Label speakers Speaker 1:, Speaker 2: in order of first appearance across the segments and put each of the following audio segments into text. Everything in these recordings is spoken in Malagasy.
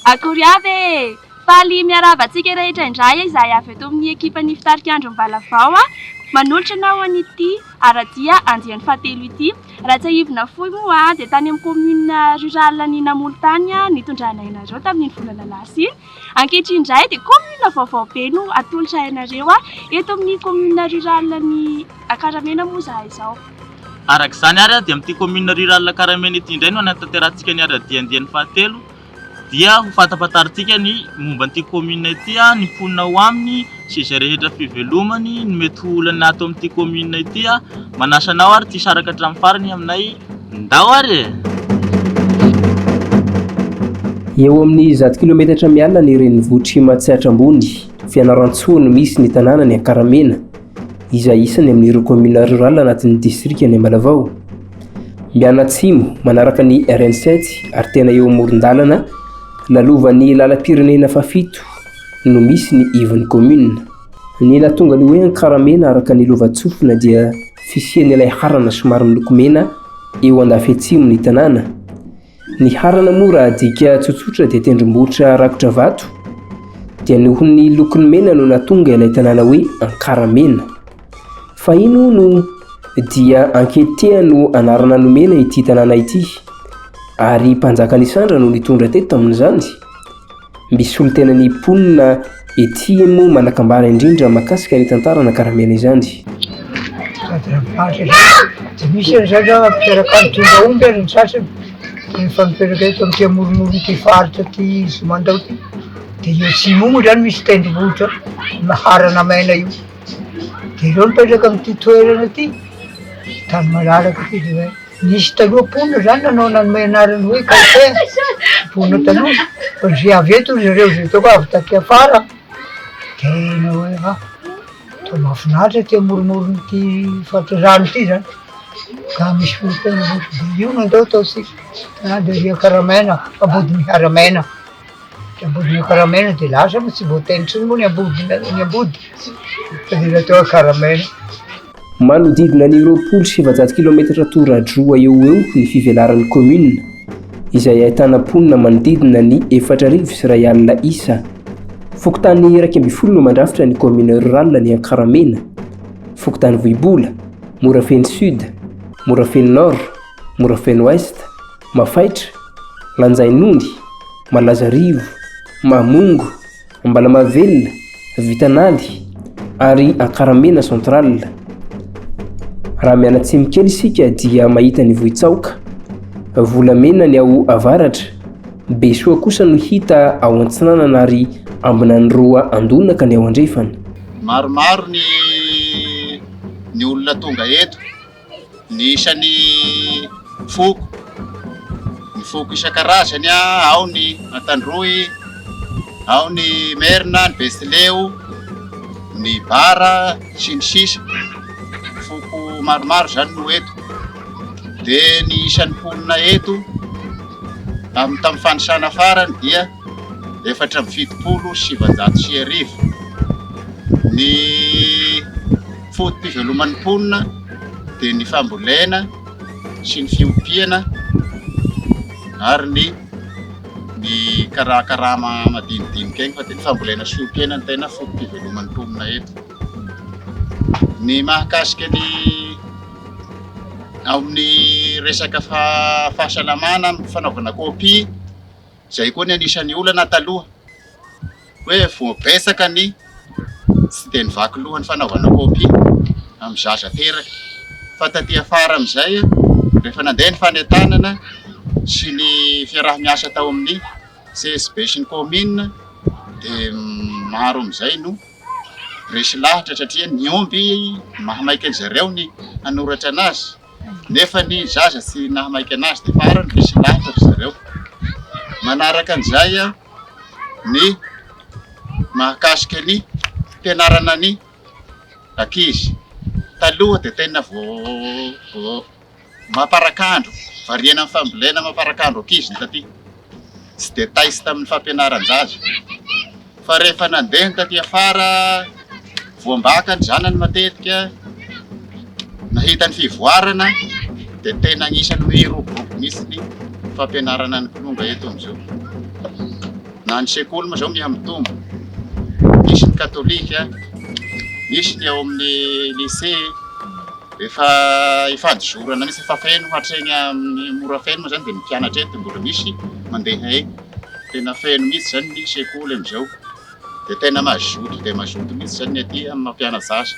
Speaker 1: Akory avy e! Faly miarahaba antsika rehetra indray izahay avy eto amin'ny ekipan'ny Fitarikandron'ny Valavao manolotra anao an'ity ara-dia andiany fahatelo ity. Raha tsiahivina fohy moa dia tany amin'ny commune rurale an'i Namolo tany nitondranay anareo tamin'iny volana lasa iny. Ankehitriny indray dia commune vaovao be no atolotray anareo. Eto amin'ny commune rurale an'i Akaramena moa izahay izao. Araka izany
Speaker 2: ary dia amin'ity commune rurale Akaramena ity indray no hanatanterahantsika ny ira-diandiany fahatelo. Dia ho fantafantarintsika ny momba an'ity kaominina ity, ny mponina ao aminy sy izay rehetra fivelomany, ny mety ho olana ato amin'ity kaominina ity. Manasa anao ary ity saraka hatramin'ny farany aminay. Ndao ary e!
Speaker 3: Eo amin'ny zato kilometatra miala ny renivohitr'i Matsiatra Ambony, Fianarantsoa no misy ny tanànan'i Ankaramena. izay isany amin'ireo kaominina rurales anatin'ny distrikan'i Ambalavao. Mianatsimo manaraka ny RN sept ary tena eo amoron-dalana lalovan'ny lalam-pirenena fahafito no misy ny ivon'ny kaominina. Ny nahatonga ny hoe Ankaramena araka ny lovantsofina dia fisian'ilay harana somary miloko mena eo andafy atsimon'ny tanàna. Ny harana moa raha adika tsotsotra dia tendrombohitra rakotra vato, dia noho ny lokony mena no nahatonga ilay tanàna hoe Ankaramena. Fahiny hono dia Anketea no anarana nomena ity tanàna ity, ary mpanjaka Nisandra no nitondra teto tamin'izany. Mby solontena ny mponina ety moa manan-kambara indrindra mahakasika ny tantara nakaramena izany. Tsy
Speaker 4: misy an'izay angamba mpiteraka ny tombaomby ary ny sasany dia efa mipetraka eto amin'ity amoromoron'ity faritra ity sy mandao ity. Dia eo atsimo moa izany misy tendrombohitra maharana maina io. Dia ireo mipetraka amin'ity toerana ity, tany malalaka ity dia hoe. Nisy taloha mponina izany nanao nanome anarana hoe Kaotea, mponina taloha, fa izay avy eto ry zareo izay hitako avy taty afara dia nanao hoe ha, toa mahafinaritra ity amoromoron'ity faritra rano ity izany, ka misy fokontany roa, dia io no andao ataontsika, na dia ry Akaramaina, Ambodimiharamaina, dia Ambodimiakaramaina dia lasa fa tsy voataina intsony moa ny Ambody, ny Ambody, fa dia natao Akaramaina.
Speaker 3: Manodidina ny roapolo sy efajato kilaometatra toradroa eo ho eo ny fivelaran'ny kaominina, izay ahitana mponina manodidina ny efatra arivo sy iray alina isa. Fokontany iraika ambin'ny folo no mandrafitra ny kaominina rurale ny Ankaramena, fokontany Vohibola, Morafeno Sud, Morafeno Nord, Morafeno Ouest, Mafaitra, Lanjain'Ondy, Malazarivo, Mamongo, Ambalamahavelona, Vitanaly ary Ankaramena central. Raha mianatsimo kely isika dia mahita ny Vohitsaoka. Volamena ny ao avaratra. Besoa kosa no hita ao antsinanana ary Ambinaniroa Andonaka ny ao andrefana. Maromaro
Speaker 5: ny ny olona tonga eto. ny isan'ny foko, ny foko isan-karazany, ao ny Antandroy, ao ny Merina, ny Betsileo, ny Bara sy ny sisa foko maromaro izany no eto, dia ny isan'ny mponina eto amin'ny tamin'ny fanisana farany dia efatra amby fitopolo sy sivinjato sy arivo, ny Foto-piveloman'ny mponina dia ny fambolena sy ny fiompiana ary ny ny kara karama madinidinika iny fa dia ny fambolena sy fiompiana ny tena foto-piveloman'ny mponina eto. Ny mahakasika ny ao amin'ny resaka fahasalamana amin'ny fanaovana kopia izay koa ny anisan'ny olana taloha. hoe voabetsaka ny tsy dia nivaky loha ny fanaovana copie amin'ny zaza teraka fa taty afara amin'izay rehefa nandeha ny fanentanana sy ny fiaraha-miasa tao amin'ny CSB sy ny commune dia maro amin'izay no resy lahatra satria ny omby maha maika an-dry zareo ny hanoratra anazy. nefa ny zaza tsy nahamaika anazy dia farany misy lahatra ry zareo. Manaraka an'izay ny mahakasika ny fianarana ny ankizy. Taloha dia tena vao mamparakandro, variana amin'ny fambolena mamparakandro ankizy ny taty. tsy dia taizy tamin'ny fampianaran-jaza fa rehefa nandeha ny taty afara voambaka ny zanany matetika nahita ny fivoarana dia tena anisany hoe iroborobo mihitsy ny fampianarana ny kilonga eto amin'izao na ny sekoly moa izao mihamitombo misy ny katolika misy ny ao amin'ny lycée Rehefa ifadizorana mihitsy, efa feno hatreny amin'ny Morafeno moa izany dia ny mpianatra eny dia mbola misy mandeha eny. Tena feno mihitsy izany ny sekoly amin'izao. Dia tena mazoto dia mazoto mihitsy izany ny aty amin'ny maha mpiana-jaza.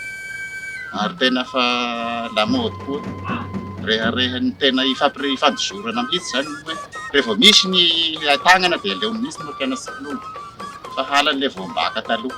Speaker 5: Ary tena efa lamaody koa, rehareha ny tena hifampire- hifandizorana mihitsy izany ny hoe raha vao misy ny ahitanana dia aleo mihitsy ny mampianatra ny mpianany, sahala an'ilay voam-baka taloha.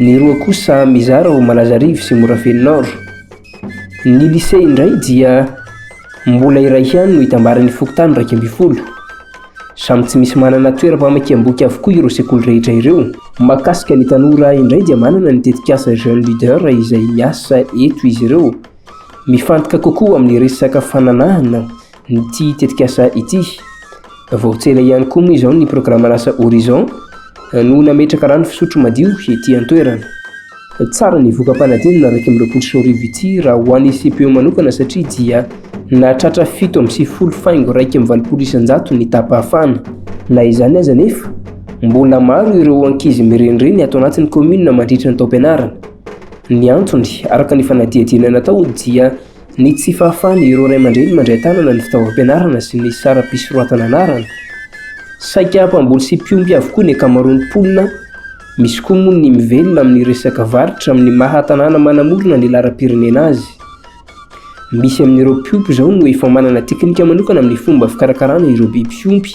Speaker 3: Ny roa kosa mizara ho Malazarivo sy Morafeno Nord. Ny Lycée indray dia mbola iray ihany no itambaran'ny fokontany iraika ambin'ny folo. Samy tsy misy manana toeram-pamakiam-boky avokoa ireo sekoly rehetra ireo. Mahakasika ny tanora indray dia manana ny tetikasa Jeune Leader izay miasa eto izy ireo. Mifantoka kokoa amin'ny resaka fananahana Ity tetikasa ity. Voatsena ihany koa moa izao ny programan'asa Horizon no nametraka rano fisotro madio ety an-toerana. Tsara ny voka-panadinana iraika amby roapolo sy roa arivo ity raha ho an'ny CPO manokana satria dia nahatratra fito amby sivifolo faingo iraika amby valopolo isan-jato ny tapahafana. Na izany aza anefa, mbola maro ireo ankizy mirenireny ato anatin'ny kaominina mandritra ny taom-pianarana. Ny antony, araka ny fanadihadiana natao, dia Ny tsy fahafahan' ireo ray aman-dreny mandray tanana ny fitaovam-pianarana sy ny saram-pisoratana anarana. Saika mpamboly sy mpiompy avokoa ny ankamaroan' ny mponina, misy koa moa ny mivelona amin' ny resaka varotra amin' ny maha tanàna manamorona ny laharam-pirenena azy. Misy amin' ireo mpiompy izao no efa manana teknika manokana amin' ny fomba fikarakarana ireo biby fiompy.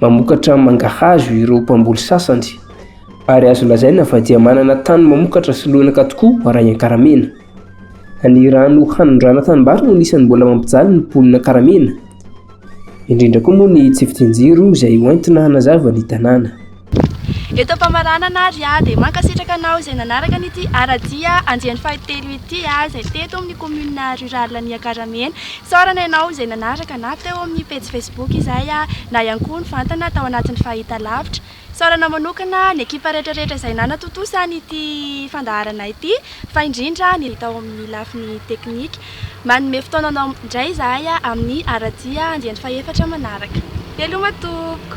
Speaker 3: Mamokatra mangahazo ireo mpamboly sasany, ary azo lazaina fa dia manana tany mamokatra sy lonaka tokoa raha i Ankaramena. Ny rano hanondrana tanimbary no anisan'ny mbola mampijaly ny mponina Ankaramena, indrindra koa moa ny tsy fidin-jiro izay hoentina hanazava ny tanàna. Eto
Speaker 1: am-pamaranana ary aho dia mankasitraka anao izay nanaraka an'ity ara-dia andiany fahatelo ity, izay teto amin'ny commune rurale ny Ankaramena. Isaorana ianao izay nanaraka na teo amin'ny pejy Facebook izay na ihany koa nivantana tao anatin'ny fahitalavitra. Isaorana manokana ny ekipa rehetrarehetra izay nanatontosa an'ity fandaharana ity fa indrindra ny tao amin'ny lafiny teknika. Manome fotoana anao indray izahay amin'ny ara-dia andiany fahefatra manaraka. Veloma tompoko!